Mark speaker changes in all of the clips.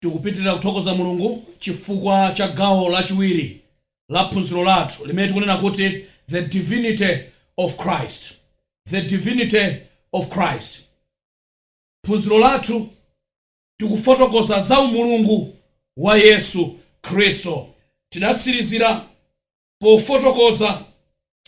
Speaker 1: Tikupitilira kuthokoza Mulungu chifukwa cha gawo lachiwiri la phunziro lathu limene tikunena kuti The Divinity of Christ. The Divinity of Christ. Phunziro lathu tikufotokoza za umulungu wa Yesu Khristu. Tidatsirizira pofotokoza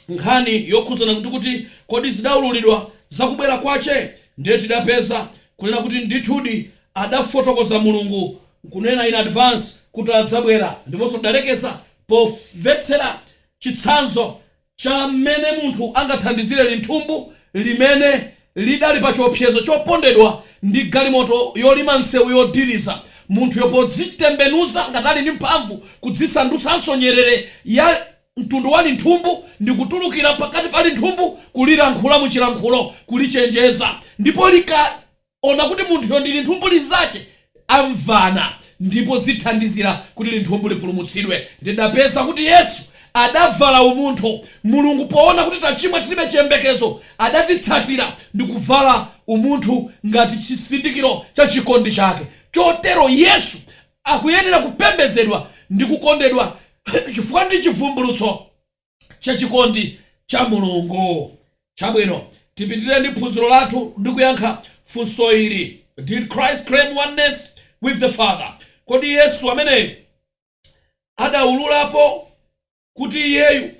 Speaker 1: nkhani yokhudzana kuti kodi zidaululidwa za kubwera kwache? Ndiye tidapeza kunena kuti ndithudi adafotokoza Mulungu kunena in advance kuti adzabwera ndiponso tidalekeza pomvetsera chitsanzo cha mmene munthu angathandizire linthumbu limene lidali pa chiopsezo chopondedwa ndi galimoto yolima msewu yodiriza munthuyo podzitembenuza ngati ali ndi mphamvu kudzisandutsanso nyerere ya mtundu wa linthumbu ndikutulukira pakati pa linthumbu kulilankhula muchilankhulo kulichenjeza ndipo likaona kuti munthuyo ndi linthumbu linzache amvana ndipo zithandizira kuti linthumbu lipulumutsidwe. Ndidapeza kuti Yesu adavala umunthu Mulungu poona kuti tachimwa tilibe chiyembekezo adatitsatira ndikuvala umunthu ngati chisindikizo cha chikondi chake. Chotero Yesu akuyenera kupembedzedwa ndi kukondedwa chifukwa ndi chivumbulutso. cha chikondi cha Mulungu. Chabwino, tipitirire ndi phunziro lathu ndi kuyankha funso ili, Did Christ claim oneness with the Father? Kodi Yesu ameneyu adaululapo kuti Iyeyu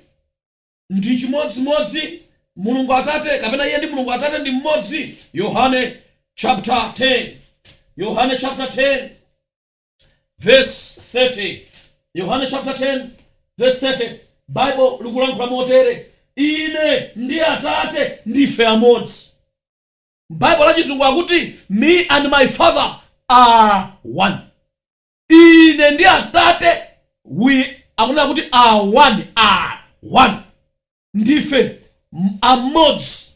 Speaker 1: ndi chimodzimodzi Mulungu Atate, kapena Iye ndi Mulungu Atate ndi mmodzi? Yohane chapter 10. Yohane chapter 10. Vesi 30, Yohane chapter 10 vesi 30, Bible likulankhula motere, Ine ndi Atate ndife amodzi. Bible la chizungu akuti Me and my Father are one. Ine ndi Atate we akunena kuti are one, are one. Ndife amodzi.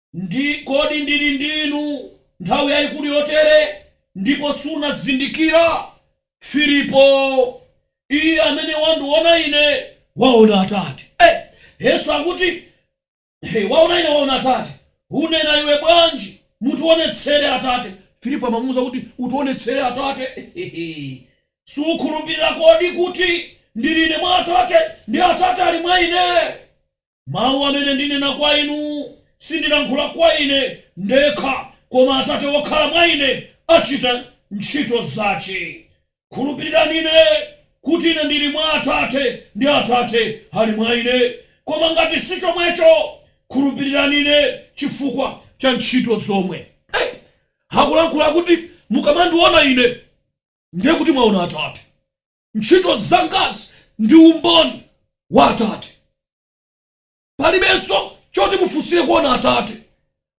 Speaker 1: Kodi ndiri ndi inu nthawi yayikulu yotere, ndipo sunazindikira? Filipo, iye amene wandiona ine waona Atate. E! Yesu akuti, waona ine waona Atate, unena iwe bwanji, Mutionetsere Atate? Filipo amamuuza kuti, Utionetsere Atate. Sukhulupirira kodi kuti ndiri ine mwa Atate, ndi Atate ali mwa ine? Mau amene ndinena kwa inu, sindilankhula kwa Ine ndekha, koma Atate wokhala mwa Ine acita nchito zace. Khulupirirani Ine, kuti Ine ndiri mwa Atate, ndi Atate ali mwa Ine, koma ngati si comweco, khulupirirani Ine cifukwa ca nchito zomwe. Akulankhula kuti, Mukamandiona Ine, ndiye kuti mwaona Atate. Ntchito zangazi ndi umboni wa Atate. Palibenso choti mufunsire kuona Atate.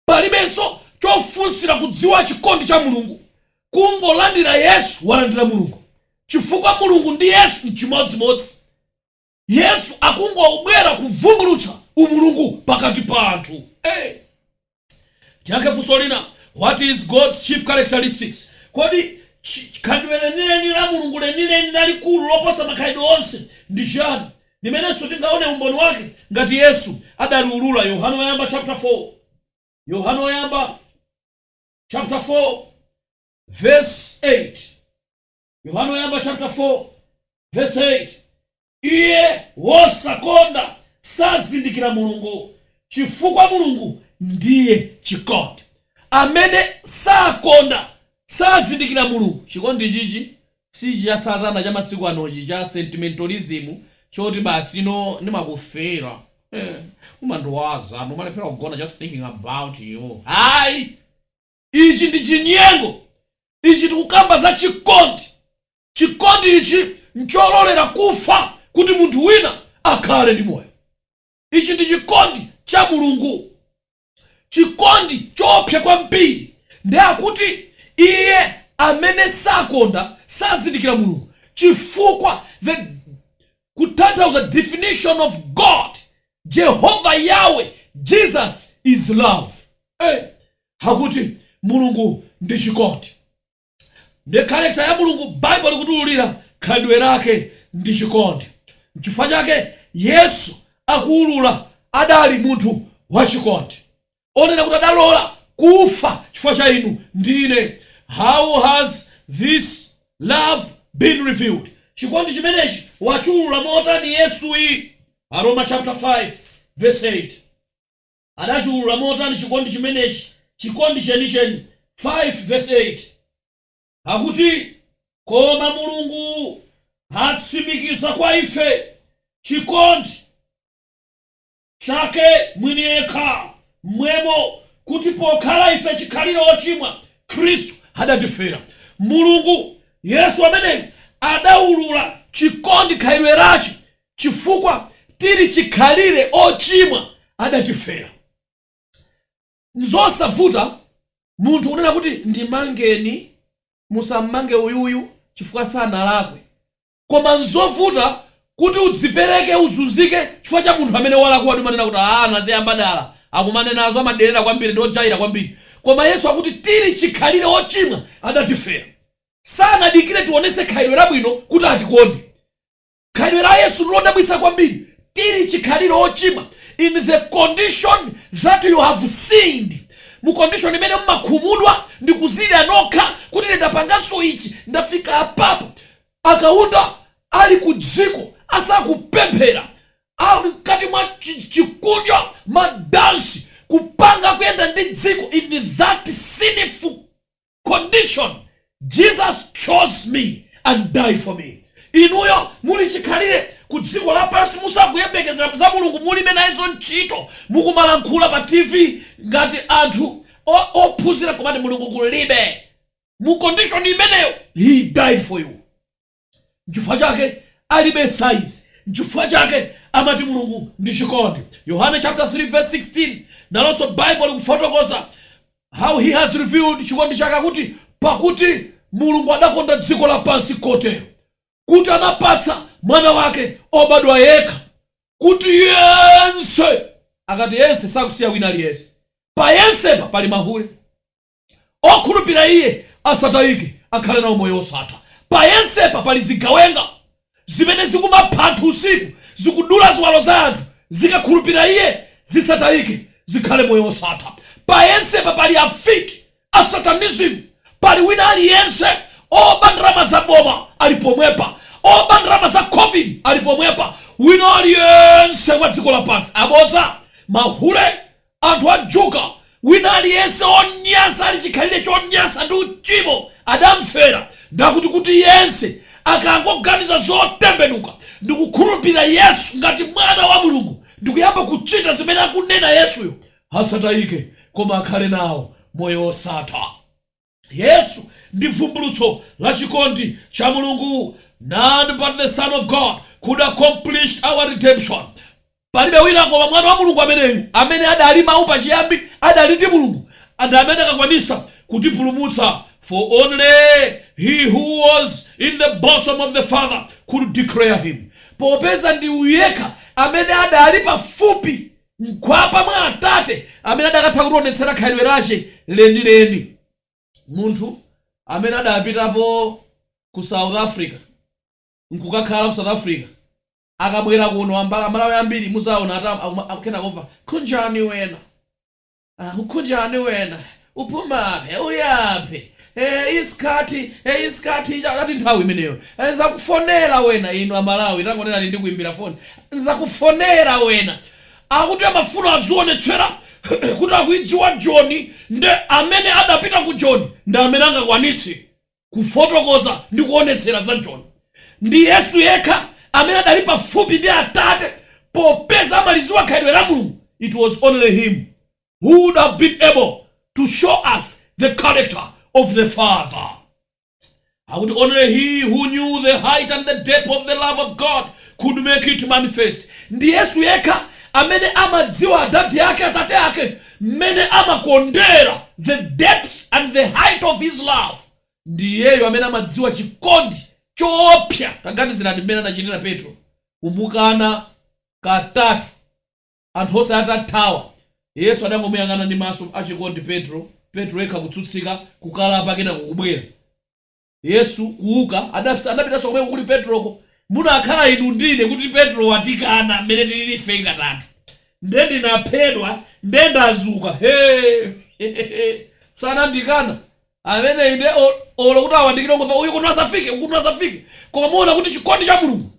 Speaker 1: Palibenso chofunsira kudziwa chikondi cha Mulungu. Kungolandira Yesu walandira Mulungu, chifukwa Mulungu ndi Yesu n'chimodzimodzi. Yesu akungobwera kuvumbulutsa umulungu pakati pa anthu. Hey! Tiyankhe funso lina, What is God's chief characteristics? Kodi khalidwe lenileni la Mulungu, lenileni, lalikulu loposa makhalidwe onse, ndi chiyani, limenenso tingaone umboni wake ngati Yesu adaliulula? Yohane Woyamba chapter 4 Yohane Woyamba chapter 4 verse 8. Yohane Woyamba chapter 4 verse 8 Iye wosakonda sazindikira Mulungu, chifukwa Mulungu ndiye chikondi. Amene sakonda sazindikira Mulungu. Chikondi ichichi si ichi cha Satana cha masiku anochi cha sentimentalism choti basi you know ndimakufeela eh, umandiwaza, ndimalephera kugona just thinking about you. Ayi! Ichi ndi chinyengo. Ichi tikukamba za chikondi. Chikondi ichi nchololera kufa kuti munthu wina akhale ndi moyo. Ichi ndi chikondi cha Mulungu. Chikondi choopsa kwambiri ndi akuti iye amene sakonda sazindikira Mulungu chifukwa the kutanthauza definition of God, Jehovah, Yahweh, Jesus is love. Hey! akuti Mulungu ndi chikondi. Ndiye character ya Mulungu Bible likutiululira khalidwe lake ndi chikondi. Nchifukwa chake Yesu akuulula adali munthu wa chikondi. Onena kuti adalola kufa chifukwa cha inu ndi ine. How has this love been revealed? Chikondi chimenechi wachiulula motani Yesuyi? Aroma chapter 5 verse 8. Adachiwulula motani chikondi chimenechi, chikondi chenicheni? 5 verse 8 akuti, Koma Mulungu atsimikiza kwa ife chikondi Chake mwini yekha m'mwemo, kuti pokhala ife chikhalire ochimwa, Khristu adatifera. Mulungu, Yesu ameneyi, adawulula chikondi khalidwe lachi chifukwa tili chikhalire ochimwa adatifera. Nzosavuta munthu kunena kuti ndimangeni, musammange uyuyu chifukwa sanalakwe. Koma nzovuta kuti udzipereke uzunzike chifukwa cha munthu amene walakwadi, umanena kuti aah anaziyamba dala, akumanenazo amadelera kwambiri ndi ojaira kwambiri. Koma Yesu akuti tili chikhalire ochimwa adatifera. Sanadikire tionetse khalidwe labwino kuti atikonde. Khalidwe la Yesu nlodabwitsa kwambiri, tiri chikhalire ochimwa, in the condition that you have sinned, mu condition imene mumakhumudwa ndi kuzilira nokha kuti ine ndapangaso ichi, ndafika apapo. A Kaunda ali ku dziko asakupemphera, ali mkati mwa chi chikunja, ma dansi, kupanga, kuyenda ndi dziko in that sinful condition Jesus chose me and die for me inuyo muli chikhalire ku dziko lapansi musakuyembekezera za Mulungu mulibe nayizo ntchito mukumalankhula pa TV ngati anthu o, ophunzira nkumati Mulungu kulibe mu condition imeneyo he died for you. Nchifukwa chake alibe size. Nchifukwa chake amati Mulungu ndi chikondi. Yohane chapter 3 verse 16 nalonso Baibulo likufotokoza how he has revealed chikondi chake akuti pakuti Mulungu adakonda dziko lapansi kotero kuti anapatsa mwana wake obadwa yekha kuti yense akati yense sakusiya wina aliyense. Pa yensepa pali mahule. Okhulupira Iye asatayike, akhale nawo moyo wosatha. Pa yensepa pali zigawenga zimene zikumapha anthu usiku, zikudula ziwalo za anthu. Zikakhulupira Iye, zisatayike, zikhale moyo wosatha. Pa yensepa pali afiti, a satanism. Pali wina aliyense. Oba ndalama za boma ali pomwepa. Oba ndalama za Covid ali pomwepa. Wina aliyense wa dziko lapansi? Abodza! Mahule! Anthu a juga, wina aliyense onyansa ali chikhalire chonyansa ndi uchimo, adamfera, nde akuti kuti yense akangoganiza zotembenuka ndikukhulupirira Yesu ngati mwana wa Mulungu ndikuyamba kuchita zimene akunena Yesuyo, asatayike koma akhale nawo moyo wosatha. Yesu ndi vumbulutso la chikondi cha Mulungu, None but the Son of God could accomplish our redemption, Palibe wina koma Mwana wa Mulungu ameneyu, amene adali Mawu pachiyambi, adali ndi Mulungu, and amene akakwanisa kutipulumutsa, for only He who was in the bosom of the Father could declare Him, Popeza ndi Uyu yekha amene adali pafupi mkhwapa mwa atate amene adakatha kutionetsera khalidwe lache lenileni. Munthu amene adapitapo ku South Africa nkukakhala ku South Africa akabwera kuno amalawi ambiri muzaona akuyenda kumva Kunjani wena? Ah ukunjani wena? Uphumapi? Uyaphi? Eh isikhathi, eh isikhathi ati nthawi imeneyo. Eh nzakufonela wena inu amalawi tangonenani ndikuimbila foni. Nzakufonela wena. Akuti amafuna adzionetsela kuti akuidziwa joni nde amene adapita ku joni ndi amene angakwanitse. Kufotokoza ndi kuonetsera za Joni. Ndi Yesu yekha amene adali pafupi ndi Atate popeza amaliziwa khalidwe la Mulungu, It was only him who would have been able to show us the character of the Father. Akuti Only he who knew the height and the depth of the love of God could make it manifest. Ndi Yesu yekha amene amadziwa adadi ake, Atate ake, mmene amakondera, the depth and the height of His love, ndi Iyeyo amene amadziwa chikondi choopsa. Taganizirani mmene anachitira Petro, kumukana katatu anthu onse atathawa. Yesu adangomuyang'ana ndi maso achikondi Petro, Petro yekha kutsutsika, kukalapa, kenako kubwera. Yesu, kuwuka, adapitanso komweko kuli Petroko. Munakhala inu ndi ine kuti Petro wandikana m'mene tiliri ife katatu, ndiye ndinaphedwa, ndiye ndazuka, he! he! he! he! sanandikana ameneyu ndiye olo kuti awandikire ungomva uyu kuno asafike, kuno asafike koma muona kuti chikondi cha Mulungu.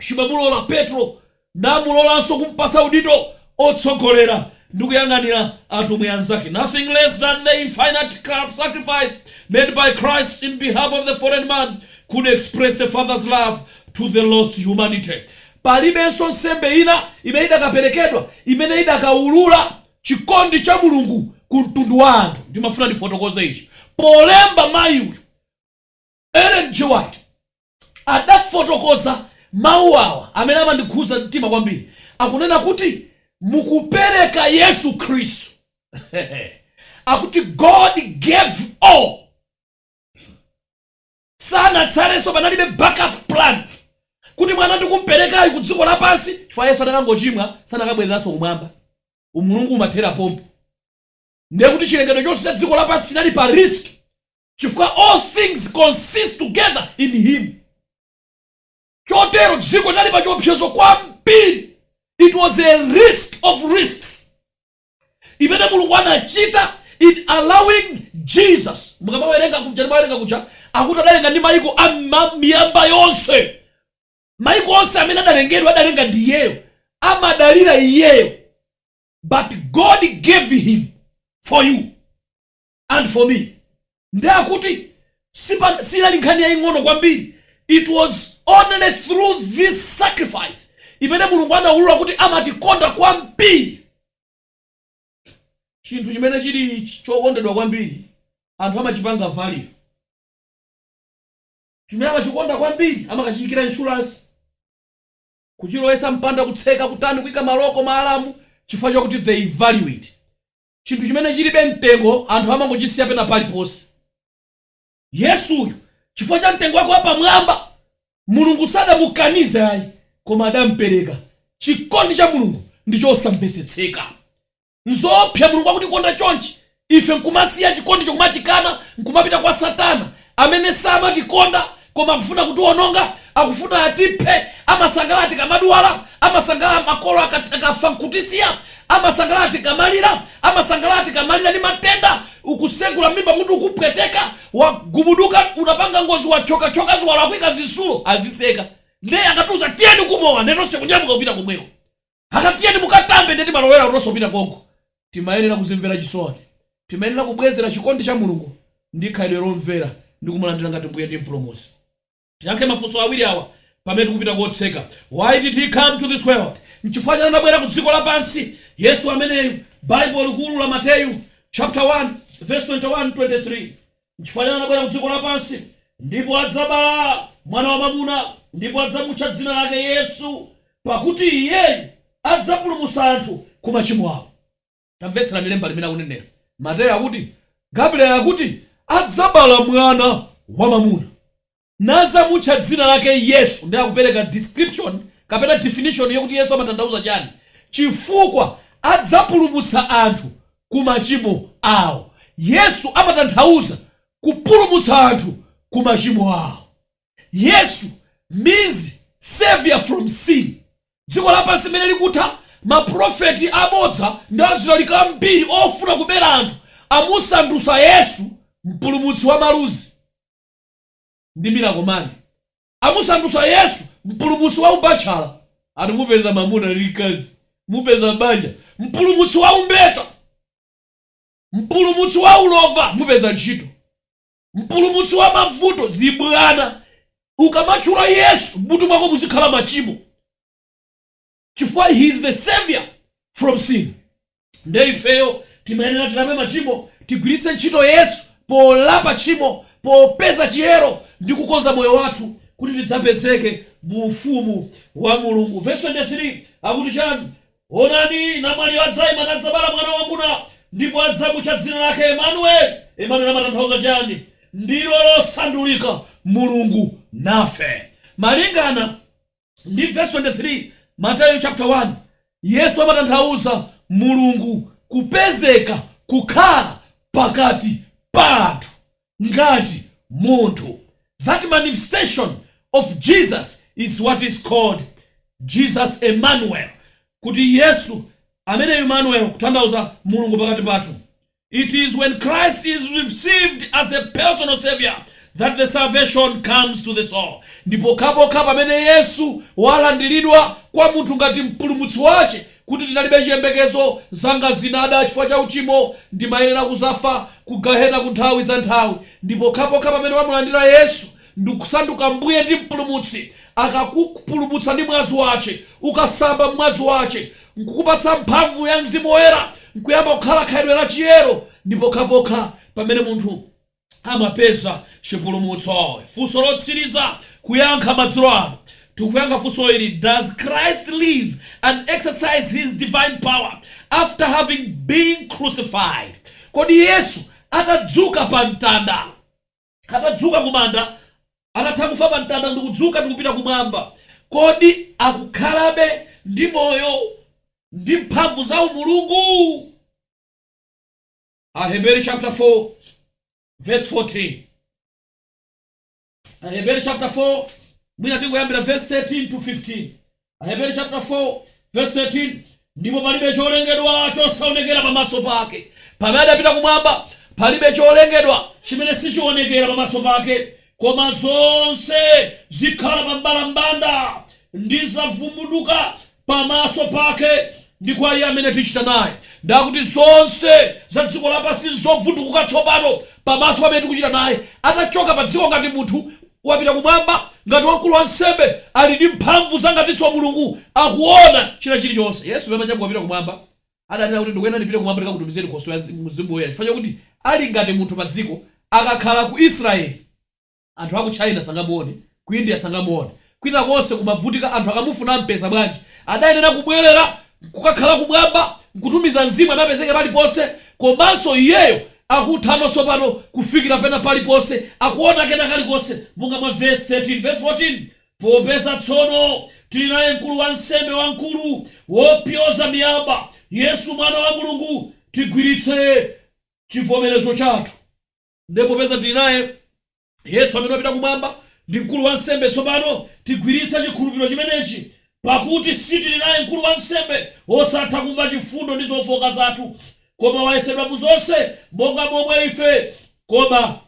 Speaker 1: Chimamulola Petro namulolanso kumpatsa udindo otsogolera ndi kuyang'anira atumwi anzake nothing less than the infinite sacrifice made by Christ in behalf of the fallen man could express the Father's love to the lost humanity. Palibenso nsembe ina imene idakaperekedwa imene idakaulula chikondi cha Mulungu ku mtundu wa anthu. Ndimafuna ndifotokoze ichi polemba mayi uyu. Ellen G. White adafotokoza mawu awa amene amandikhudza mtima kwambiri, akunena kuti, Mukupereka Yesu Khristu, akuti God gave all sanatsalenso, panalibe backup plan, kuti mwana ndikumperekayu kudziko lapansi chifukwa Yesu adakangochimwa sanakabwereranso kumwamba, umulungu umathera pompo, ndiye kuti chilengedwe chonse cha dziko lapansi chinali pa risk. chifukwa all things consist together in Him. Chotero dziko linali pa chiopsezo kwambiri, it was a risk of risks imene Mulungu anachita in allowing Jesus. Mukamawerenga kuja timawerenga kuja, akuti adalenga ndi maiko a miyamba yonse, maiko onse amene adalengedwa adalenga ndi Iyeyo, amadalira Iyeyo, but God gave Him for you. and for me nde akuti sinali nkhani yaying'ono kwambiri it was only through this sacrifice imene mulungu anaulula kuti amatikonda kwambiri chinthu chimene chili ch- chokondedwa kwambiri anthu amachipanga value chimene amachikonda kwambiri amakachiyikira insurance kuchilowesa mpanda kutseka kutani kuika maloko maalamu chifukwa chakuti they value it chinthu chimene chilibe mtengo anthu amangochisiya pena paliponse. Yesu uyu chifukwa cha mtengo wake wapamwamba Mulungu sadamukanize ayi koma adampereka. Chikondi cha Mulungu ndi chosamvesetseka. Nzoopsa Mulungu wakutikonda chonchi ife nkumasiya chikondicho kumachikana nkumapita kwa satana amene samatikonda koma akufuna kutiwononga, akufuna atiphe, amasangalala tikamadwala, amasangalala makolo akat, akafa nkutisiya, amasangalala tikamalira, amasangalala tikamalira ndi matenda, ukusegula mmimba mutu ukupweteka, wagubuduka, unapanga ngozi wathyoka thyoka ziwalo akuika zitsulo, aziseka, nde akatiuza tiyeni kumowa nde tonse kunyamuka kupita komweko. Akati tiyeni mukatambe nde timalowera kutonso kupita konko. Timayenera kuzimvera chisoni. Timayenera kubwezera chikondi cha Mulungu ndi khalidwe lomvera ndi kumulandira ngati Mbuye ndi Mpulumutsi. Tiyankhe mafunso awiri awa pamene tikupita kotseka. Why did He come to this world? Nchifukwa chani anabwera ku dziko lapansi? Yesu ameneyu Bible likulu la Mateyu chaputala 1 vesi 21, 23. Nchifukwa chani anabwera kudziko lapansi, ndipo adzabala mwana wamwamuna, ndipo adzamutcha dzina lake Yesu, pakuti Iyeyu adzapulumutsa anthu ku machimo awo. Tamvetserani lemba limene akunenera Mateyo akuti, Gabriel akuti, Adzabala mwana wamwamuna. nazamutcha dzina lake Yesu nde akupereka description kapena definition yokuti Yesu amatanthauza chani chifukwa adzapulumutsa anthu ku machimo awo Yesu amatanthauza kupulumutsa anthu ku machimo awo Yesu means saviour from sin dziko lapansi mene likutha ma prophet abodza ndi azilaliki ambiri ofuna kubera anthu amusandutsa Yesu mpulumutsi wa maluzi. ndi miracle man amusandutsa yesu mpulumutsi wa ubatchala ati mupeza mamuna ni mkazi mupeza banja mpulumutsi wa umbeta mpulumutsi wa ulova mupeza ntchito mpulumutsi wa mavuto zibwana ukamatchula yesu mmutu mwako muzikhala machimo chifukwa he is the saviour from sin nde ifeyo timayenera tilame machimo tigwiritse ntchito yesu polapa tchimo popeza chiyero ndi kukonza moyo wathu kuti tidzapezeke mu ufumu wa mulungu vesi 23 akuti chani onani namwali adzaima nadzabala mwana wamuna ndipo adzamutcha dzina lake emanueli emanueli amatanthauza chani ndilo losandulika mulungu nafe malingana ndi vesi 23, Mateyu chaputala 1, Yesu amatanthauza Mulungu kupezeka, kukhala, pakati pathu ngati munthu That manifestation of Jesus is what is called Jesus Emmanuel, kuti Yesu amene Emmanuel kutanthauza Mulungu pakati pathu. It is when Christ is received as a personal savior that the salvation comes to the soul. Ndipokhapokha pamene Yesu walandiridwa kwa munthu ngati mpulumutsi wache kuti tinalibe chiyembekezo zanga zinada chifukwa cha uchimo ndimayenera kuzafa ku gahena ku nthawi za nthawi ndipokhapokha pamene wamulandira Yesu ndikusanduka Mbuye ndi Mpulumutsi, akakupulumutsa ndi mwazi wache, ukasamba m'mwazi wache, nkukupatsa mphamvu ya Mzimu Woyera, nkuyamba kukhala khalidwe la chiyero, ndi pokhapokha pamene munthu amapeza chipulumutso. Funso lotsiriza kuyankha madzulo ano. Tikuyankha funso ili, Does Christ live and exercise His divine power after having been crucified? Kodi Yesu atadzuka pa mtanda? atadzuka ku manda, atatha kufa pa mtanda ndi kudzuka ndi kupita kumwamba, kodi akukhalabe ndi moyo ndi mphamvu za umulungu? Aheberi chapter 4 verse 14. Aheberi chapter 4, mwina tingoyambira verse 13 to 15. Aheberi chaputala 4 vesi 13 Ndipo palibe cholengedwa chosaonekera pamaso pake, pamene adapita kumwamba, palibe cholengedwa chimene sichionekera pamaso pake, koma zonse zikhala pa mbalambanda, ndi zavundukuka pamaso pake, ndi kwa Iye amene tichita naye, nde akuti zonse za dziko lapansi nzovundukuka tsopano pamaso pa amene tikuchita naye, atachoka padziko ngati munthu. wapita kumwamba, ngati wamkulu wansembe ali ndi mphamvu za ngatinso wa Mulungu akuona china chirichonse. Yesu sananyamuka kupita kumwamba. Adanena kuti ndikuyenera ndipite kumwamba ndikakutumizireni Nkhoswe ya Mzimu Woyera chifukwa chakuti ali ngati munthu padziko. Akakhala ku Israel, anthu aku China sangamuone, ku India sangamuone, kwina konse kumavutika anthu akamufuna ampeza bwanji? Adayenera kubwelera Kukakhala kumwamba nkutumiza mzimu amapezeke paliponse komanso iyeyo akuthanso tsopano kufikira pena paliponse akuona kena kalikonse monga mwa vesi 13 vesi 14 popeza tsono tili naye mkulu wa nsembe wamkulu wopyoza miyamba yesu mwana wa mulungu tigwiritse chivomerezo chathu Ndiye popeza tili naye Yesu amene wapita kumwamba, ndi mkulu wansembe tsopano, tigwiritse chikhulupiliro chimenechi. Pakuti sitili naye mkulu wansembe wosatha kumva chifundo ndi zofooka zathu, koma wayesedwa mu zonse monga momwe ife, koma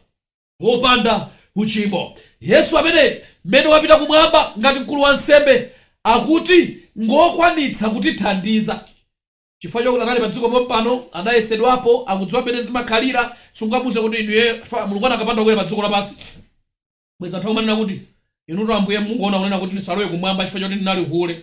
Speaker 1: wopanda uchimo. Yesu ameneyu, m'mene wapita kumwamba ngati mkulu wansembe, akuti ngwokwanitsa kutithandiza. Chifukwa chakuti anali padziko pompano, anayesedwapo, akudziwa mmene zimakhalira, siungamuuze kuti inu iye, chifukwa Mulungu anakapanda kubwera padziko lapansi, bwenzi anthu akumanena kuti, Inutu Ambuye mungoona kunena kuti ndisalowe kumwamba chifukwa choti ndinali hule.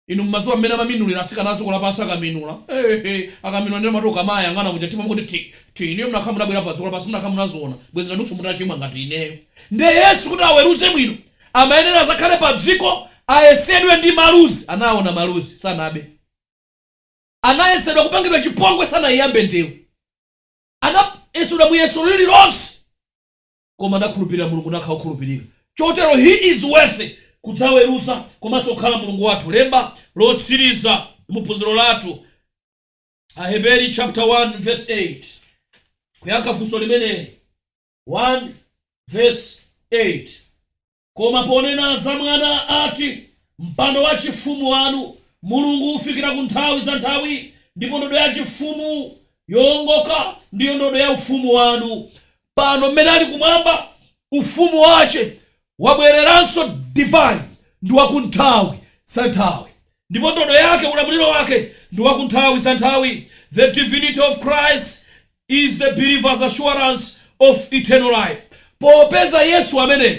Speaker 1: Inu mumadziwa mmene amaminulira atsikana a dziko lapansi akaminula. Eehe! Akaminula ndiyeno mumati ukamayang'ana muja mtima mukuti thi, thi, inuyo mukanakhala mutabwerapo padziko lapansi mukanakhala munaziona, bwenzi nanunso mutachimwa ngati ineyo. Ndiye Yesu kuti aweruze bwino, Amayenera azakhale padziko ayesedwe ndi maluzi anaona maluzi sanabe anayesedwa kupangidwa chipongwe sanaiyambe ndewu anayesedwa muyeso lililonse koma anakhulupirira Mulungu nakhala okhulupirika chotero he is worthy kudzaweruza komanso kukhala Mulungu wathu lemba lotsiriza mu phunziro lathu Aheberi chapter 1 verse 8 kuyankha funso limeneli. 1 vesi 8 Koma ponena za Mwana ati, Mpando wachifumu wanu, Mulungu, ufikira ku nthawi za nthawi, ndipo ndodo yachifumu yoongoka ndiyo ndodo ya ufumu wanu. Pano mmene ali kumwamba, ufumu wache wabwereranso divine ndi wa kunthawi za nthawi, ndipo ndodo yake, ulamuliro wake, ndi wa kunthawi za nthawi. The Divinity of Christ. is the believer's assurance of eternal life. Popeza Yesu ameneyu,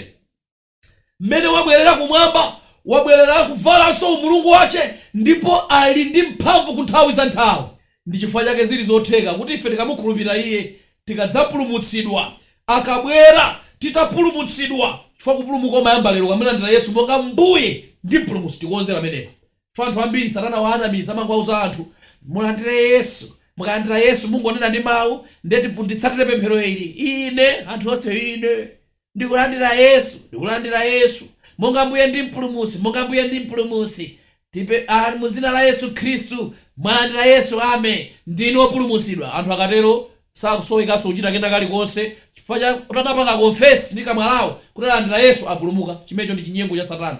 Speaker 1: m'mene wabwerera Kumwamba, wabwerera kubvalanso Umulungu wace, ndipo ali ndi mphamvu ku nthawi za nthawi. Ndi chifukwa chake ziri zotheka kuti ife tikamukhulupirira Iye, tikadzapulumutsidwa, akabwera titapulumutsidwa, chifukwa kupulumuka kumayamba lero, ukamulandira Yesu monga Mbuye ndi Mpulumutsi. Tikonze pamenepa. Ndipo anthu ambiri satana waanamiza amangwauza anthu mulandire yesu mukalandira yesu mungonena ndi mau nde nditsatire pemphero ili ine anthu onse inde ndikulandira yesu ndikulandira yesu monga mbuye ndi mpulumutsi monga mbuye ndi mpulumutsi tipempha mu dzina la yesu khristu mwalandira yesu amen ndinu opulumutsidwa anthu akatero sakusowekanso kuchita kena kalikonse chifukwa cha kuti anapanga confess ndi kamwa lawo kuti alandira yesu apulumuka chimenecho ndi chinyengo cha satana.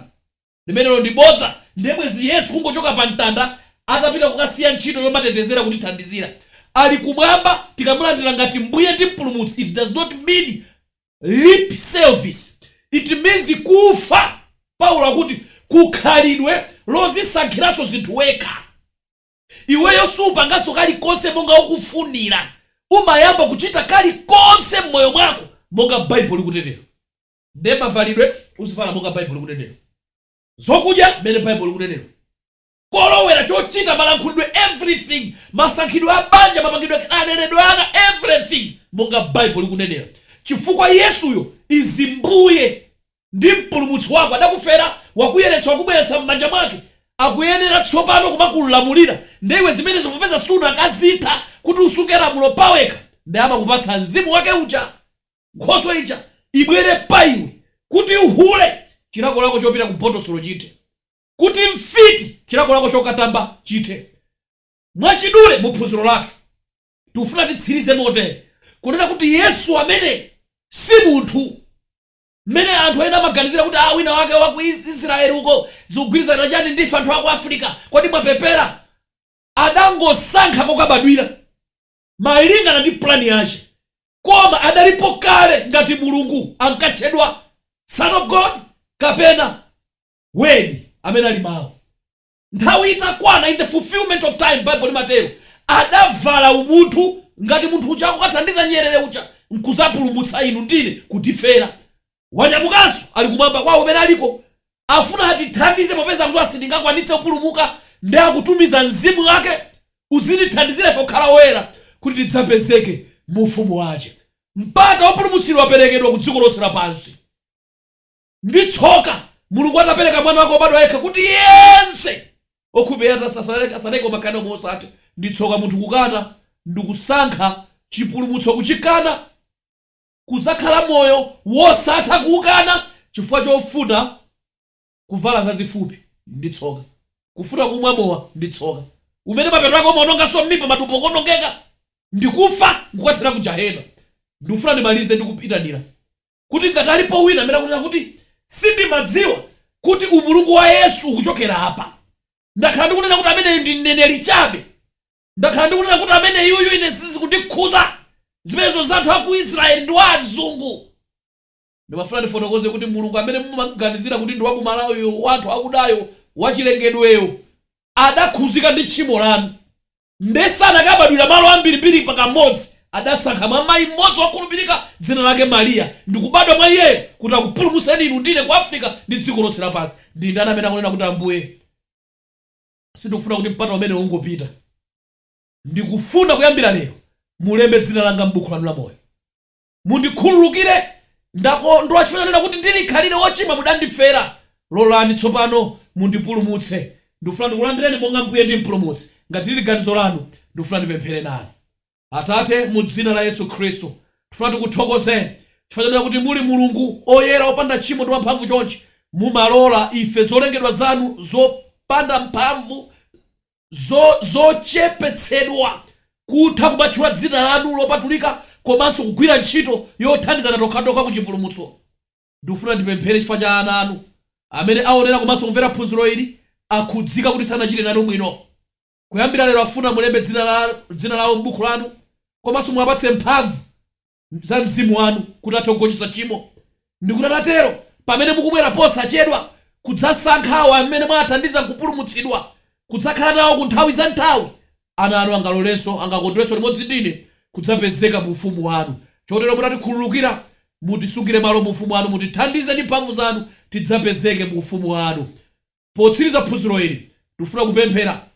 Speaker 1: Limenelo ndi bodza ndiye bwezi Yesu kungochoka pa mtanda atapita kukasiya ntchito yomatetezera kutithandizira. Ali kumwamba tikamulandira ngati mbuye ndi mpulumutsi it does not mean lip service it means kufa Paulo akuti ku khalidwe lozisankhiranso zinthu wekha. Iweyo supanganso kalikonse monga ukufunira umayamba kuchita kalikonse mmoyo mwako monga Baibulo likunenera. Nde Mavalidwe, Uzivala monga Baibulo likunenera. Zokudya, Mmene Baibulo likunenera. Kolowera, Chochita, Malankhulidwe, Everything, Masankhidwe a banja, Mapangidwe, Kaleredwe ka ana, Everything, Monga Baibulo likunenera. Chifukwa Yesuyo is Mbuye ndi Mpulumutsi wako adakufera, wakuyeretsa, wakubweretsa mmanja mwake, akuyenera tsopano kumakulamulira, nde iwe zimenezo popeza sunakazitha kuti usunge lamulo pawekha, nde amakupatsa Mzimu wake uja. Nkhoswe ija ibwere pa iwe, kuti hule chilakolako chopita ku botosolo chithe, kuti mfiti chilakolako chokatamba chithe. Mwachidule mu phunziro lathu tikufuna titsirize motere, kunena kuti Yesu ameneyi si munthu mmene anthu ena amaganizira kuti ah wina wake wa ku Israel uko, zikugwirizana chani ndife anthu a ku Africa, kodi mwapepera? Adangosankha kokabadwira. malingana ndi plan yache koma adalipo kale ngati Mulungu ankatchedwa son of God kapena word amene ali mau nthawi itakwana in the fulfillment of time Bible limatero adavala umunthu ngati munthu uja akukathandiza nyerere uja nkuzapulumutsa inu ndine kutifera Wanyamukanso ali kumwamba kwawo kumene aliko. Afuna atithandize popeza akudziwa sitingakwanitse kupulumuka, ndiye akutumiza mzimu wake uzitithandizira ife kukhala oyera, kuti tidzapezeke mu ufumu wace. Mpata wopulumutsidwa waperekedwa ku dziko lonse lapansi. Ndi tsoka Mulungu atapereka Mwana wake wobadwa yekha kuti yense wokhulupirira iye asatayike koma akhale nao moyo wosatha. Ndi tsoka munthu kukana ndi kusankha cipulumutso kucikana. kudzakhala moyo wosatha kuukana chifukwa chofuna kuvala zazifupi ndi tsoka, kufuna kumwa mowa ndi tsoka, umene mapeto ake umaononganso m'mimba, matumbo kuonongeka ndi kufa nkukathera ku jahena. Ndikufuna ndimalize ndi kuitanira kuti ngati alipo wina amene akunena kuti sindimadziwa kuti umulungu wa Yesu ukuchokera apa, ndakhala ndikunena kuti ameneyo ndi mneneri chabe. Ndakhala ndikunena kuti ameneyuyu ine sizikundikhuza, zimenezo nzanthu aku Israel ndi wa azungu. Ndimafuna ndifotokoze kuti Mulungu amene mumamuganizira kuti ndi wa ku Malawi yo, wa anthu akudayo, wa chilengedweyo, adakhuzika ndi tchimo lanu. Nde sanakabadwira malo ambirimbiri pa kamodzi, adasankha mwa mayi mmodzi wokhulupirika dzina lake Maria ndikubadwa mwa iyeyo kuti akupulumutseni inu ndine ku Africa ndi dziko lonse lapansi. Ndindani amene akunena kuti Ambuye. Sindikufuna kuti mpata umenewo ungopita. Ndikufuna kuyambira lero mulembe dzina langa m'buku lanu la moyo. Mundikhululukire, ndakondwa chifukwa chonena kuti ndili khalire wochimwa mudandifera. Lolani tsopano mundipulumutse. Ndikufuna ndikulandireni monga Mbuye ndi Mpulumutsi. Ngati lili ganizo lanu, ndikufuna ndipemphere nanu. Atate, mu Dzina la Yesu Khristu, tifuna tikuthokozeni chifukwa chonena kuti muli Mulungu oyera, opanda tchimo ndi wamphamvu chonchi. Mumalola ife, zolengedwa zanu zopanda mphamvu, zochepetsedwa, kutha kumatchula Dzina lanu lopatulika komanso kugwira ntchito yothandizana tokhatokha ku chipulumutso. Ndikufuna ndipemphere chifukwa cha ana anu amene aonera komanso kumvera phunziro ili, akhudzika kuti sanachite nanu bwino. Kuyambira lero akufuna mulembe dzina lawo m'buku lanu komanso muwapatse mphamvu za mzimu wanu kuti athe kugonjetsa tchimo. Ndikuti atatero, pamene mukubwera posachedwa kudzasankha awo amene mwawathandiza nkupulumutsidwa, kudzakhala nawo ku nthawi za nthawi, ana anu angalolenso, angakondwenso limodzi ndi ine kudzapezeka mu ufumu wanu. Chotero mutatikhululukira, mutisungire malo mu ufumu wanu, mutithandize ndi mphamvu zanu, tidzapezeke mu ufumu wanu. Potsiriza phunziro ili, tikufuna kupemphera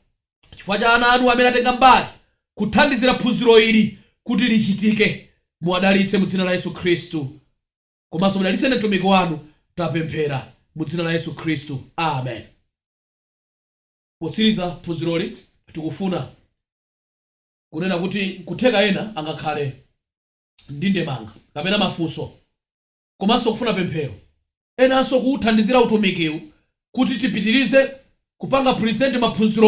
Speaker 1: chifukwa cha ana anu amene atenga mbali kuthandizira phunziro ili kuti lichitike. Muwadalitse mu dzina la Yesu Khristu. Komanso mudalitse ine mtumiki wanu. Tapemphera mu dzina la Yesu Khristu. Amen. Potsiriza phunziroli, tikufuna kunena kuti nkutheka ena angakhale ndi ndemanga kapena mafunso. komanso kufuna pemphero enanso kuuthandizira utumikiwu kuti tipitirize kupanga present maphunzirowa.